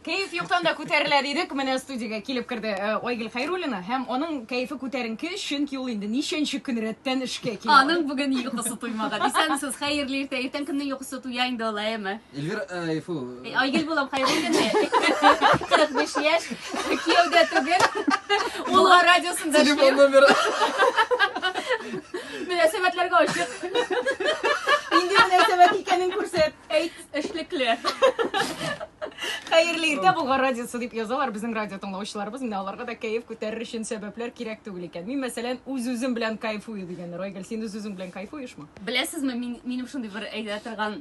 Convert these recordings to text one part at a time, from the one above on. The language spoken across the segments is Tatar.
Кәеф юктан да күтәрелә дидек. Менә студиягә килеп керде э, Айгөл Хәйруллина һәм аның кәефе күтәренке, чөнки ул инде ничәнче көн рәттән эшкә килә. Аның бүген йокысы туймаган. Исәнмесез, хәерле иртә. Иртән кемнең йокысы туя инде ул, әйеме? Эльвир, э, фу, Э, Айгөл булам Хәйруллина. 45 яшь. Кияүдә түгел. Улга радиосында телефон эшлим. номеры. Мөнәсәбәтләргә ачык. Инде мөнәсәбәт икәнен күрсәт. Әйт. Эшлекле. Хәерле иртә Болгар радиосы дип язалар безнең радио тыңлаучыларыбыз. Менә аларга да кәеф күтәрер өчен сәбәпләр кирәк түгел икән. Мин мәсәлән үз-үзем белән кайфую дигәннәр. Айгөл, син үз-үзең белән кайфуешмы? Беләсезме, мин, минем шундый бер әйтә торган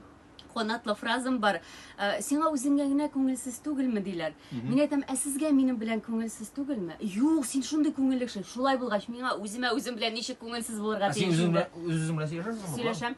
канатлы фразам бар. Ә, Сиңа үзеңә генә күңелсез түгелме диләр. Мин әйтәм, ә сезгә минем белән күңелсез түгелме? Юк, син шундый күңелле кеше. Шулай булгач, миңа үземә үзем белән ничек күңелсез булырга Ә син тиеш үзең инде? белән үзең белән сөйләшәсеңме? Сөйләшәм.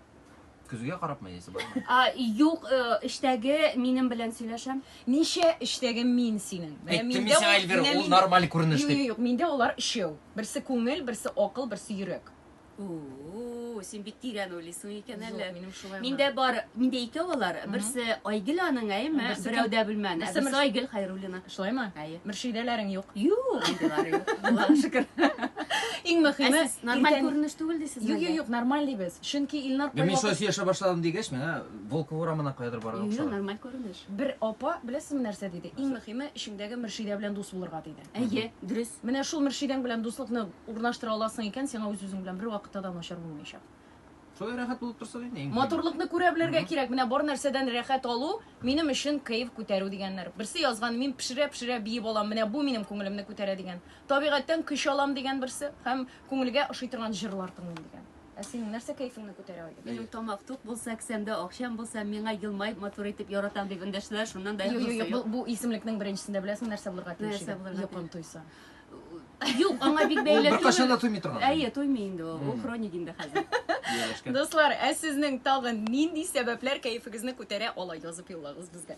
Көзгә карапмы яисә бармы? А, юк, э, эштәге минем белән сөйләшәм. Ничә эштәге мин синең? Менә Әйттем миндә мисаң, ул- Эльвира, менә ул миндә- нормаль күренеш Юк, дип. юк, юк, миндә олар өчәү. Берсе күңел, берсе акыл, берсе йөрәк. У-у-у, син бик тирән уйлыйсың икән Юк, әле. минем шулай гына. Миндә бар, миндә икәү алар. Берсе Айгөл аның, әйме? Берсе Берәү дә белмән. Ә берсе берсе Мөрс- Айгөл Хайруллина. Шулаймы? Әйе. Мөршидәләрең юк. Юк, андыйлары юк. Аллага шөкер. Иң мөхиме, Ә сез нормаль иртән- күренеш түгел дисез Юк, юк, юк, нормаль дибез. Чөнки Илнар Мин кайвакыт шулай яшәп башладым дигәч, миңа Волков урамына каядыр барырга Юк, ошады. нормаль күренеш. бер апа, беләсезме нәрсә диде? Иң мөхиме, эчеңдәге Мөршидә белән дус булырга диде. Әйе, дөрес. Менә шул Мөршидәң белән дуслыкны урнаштыра аласың икән, сиңа үз-үзең белән бер вакытта да начар булмаячак. Шулай рәхәт булып торсын инде. Матурлыкны күрә белергә кирәк. Менә бар нәрсәдән рәхәт алу минем өчен кайф күтәрү дигәннәр. Берсе язган, мин пешерә-пешерә биеп алам, менә бу минем күңелемне күтәрә дигән. Табигатьтән көч алам дигән берсе һәм күңелгә ошый торган җырлар тыңлыйм дигән. Ә синең нәрсә кайфыңны күтәрә иде? Минем тамак тук булса, кесәмдә акчам булса, миңа елмаеп матур итеп яратам дип эндәшүләр шуннан да Юк, юк, бу, бу исемлекнең беренчесендә беләсең нәрсә булырга тиеш иде? Нәрсә булырга? Йокым туйса. Юк, аңа бик бәйле түгел. Беркашан да туймый торган. Әйе, туймый инде ул. Ул хроник инде хәзер. Дуслар, ә сезнең тагын нинди сәбәпләр кәефегезне күтәрә ала язып юллагыз безгә.